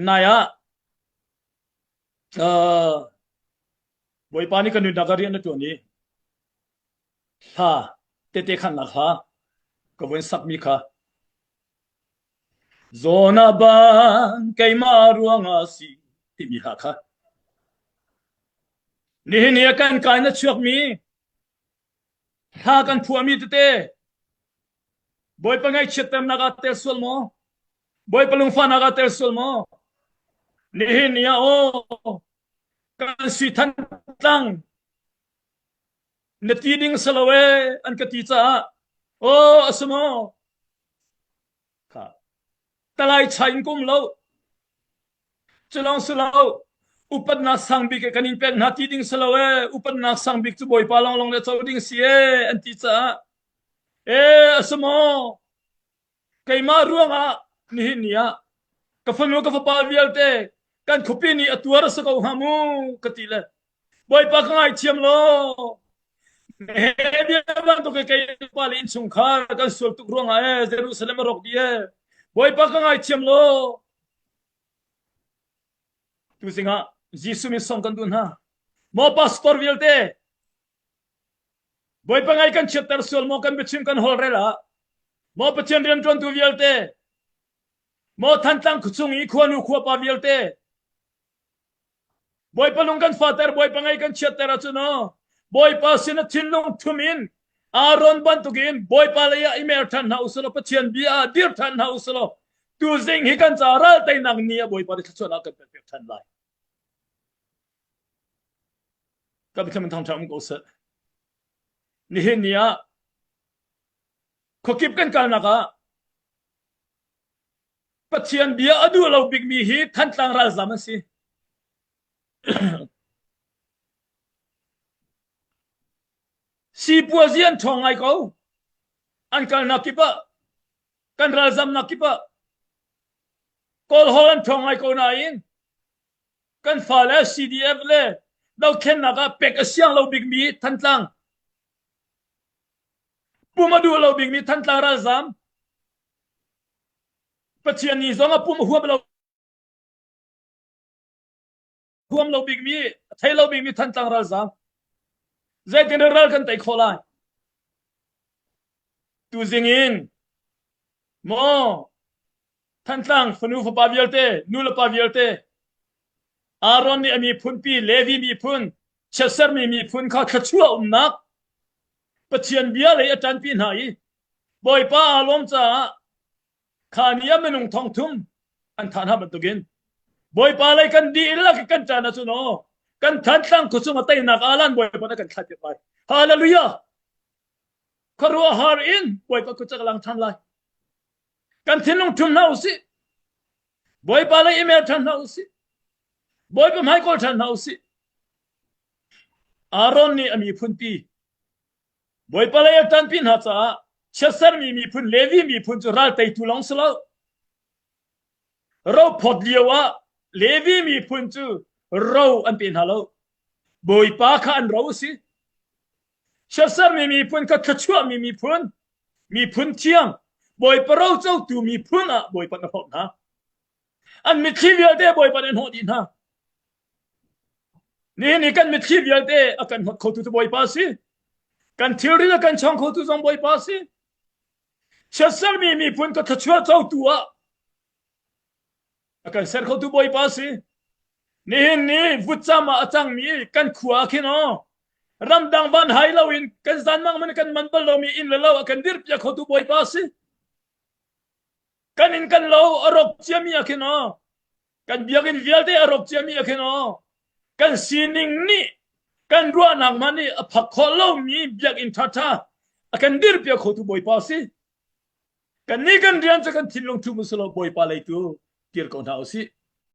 Nai ah aa, Bawipa nih ka nunnak ah rian na ṭuan i hla tete khannak hla ka vun sakmi kha Zawn a ban keimah ruangah a si timi hla kha nihin ni ah kan kai na chuakmi hla kan phuahmi tete Bawipa ngaihchiatternak ah tel sual maw? Bawipa lungfahnak ah tel sual maw? Nihin ni ah aw kan si than tlang na ti ding salo e an ka ti caah aw a si maw kha talai chai in kum lo Cu lawng si lo, upatnak sang bik ah kan in pek hna ti ding si lo ee, upatnak sang bik cu Bawipa lawnglawng le co ding si ee, an ti caah. Ee, a si maw? Keimah ruangah nihin ni ah ka fanu ka fapa vialte kan khuapi nih a tuar a si ko hnga mu ka ti le Bawipa ka ngaithiam law, Nehemiah bantuk i kei pale innchungkhar kan sual tuk ruangah ee Jerusalem a rawk dih ee. Bawipa ka ngaithiam law, tu sinah Jesuh min song kan duh hna. Maw pastor vialte, Bawipa ngai kan chiatter sual maw kan biachim kan holrel ah, maw Pathian rianṭuantu vialte, maw Thantlang khuachung i khuanu khuapa vialte, Bawipa lung kan fater, Bawipa ngei kan chiatter ahcun aw, Bawipa sin a thinlung thum in Aaron bantukin Bawipa lei ah i mer ṭhan hna usulaw Pathian bia ah dir ṭhan hna usulaw tuzing hi kan caah ral teinak ni ah Bawipa nih thluachuahnak kan pekpiak ṭhan lai. Ka biathlam in thangṭhat um ko seh. Nihin ni ah khuakip kan kalnak ah Pathian bia a duh lo bikmi hi Thantlang ralzam an si. Sipuazi an ṭhawng ngai ko. An kalnak kip ah, kan ralzamnak kip ah Kawlhawl an ṭhawng ngai ko nain kan fale CDF le dohkhennak ah pek a siang lo bikmi Thantlang pum a duh lo bikmi Thantlang ralzam Pathian nih zong a pum a huam lo bikmi, a thei lo bikmi Thantlang ralzaam. Zeitin in ral kan tei khawh lai? Tuzing in, maw Thantlang fanu fapa vialte, nulepa vialte, Aaron nih a miphunpi, Levi miphun, chiatsermi miphun kha thluachuah umnak Pathian bia lei a ṭanpi hna i Bawipa aa lawm caah kha ni ah minung thongthum an than hna bantukin Bawipa lei kan dihlak i kan caan ah cun aw kan thantlang khuachung a teinak alan Bawipa na kan thlah tirh lai. Hallelujah! Khuaruahhar in Bawipa khuachak a lang ṭhan lai. Kan thinlung ṭhum hna u sih. Bawipa lei email ṭhan hna u sih. Bawipa hmaikawl ṭhan hna u sih. Aaron nih a miphunpi Bawipa lei a ṭanpi hna caah chiatsermi miphun Levi miphun cu ral teitu lawng si lo, rophawt lioah Levi miphun cu ro an pe hna lo. Bawipa kha an ro a si. Chiatsermi miphun kha thluachuahmi miphun, miphun thiang, Bawipa rocotu miphun ah Bawipa na hlawt hna. An mitthli vialte Bawipa nih a hnawh dih hna. Nihin i kan mitthli vialte a kan hnawt khotu cu Bawipa a si. Kan thilri le kan chawng khotu zong Bawipa a si. Chiatsermi miphun ka thluachuah cotu ah a kan ser khotu Bawipa a si. Nihin ni vutcam ah a cangmi kan khua ah khin aw ramdang van hai loin kan zanmang man kan man bal lomi inn le lo a kan dirpiak khotu Bawipa a si. kan in kan lo a rawk ciami ah khin aw kan biakinn vialte a rawk ciami ah khin aw kan sining nih kan ruahnak man nih a phak khawh lomi biakinn ṭhaṭha a kan dirpiak khotu bawipa si kan nih kan rian cu kan thinlung ṭhum a si lo bawipa lei tu kir ko hna u sih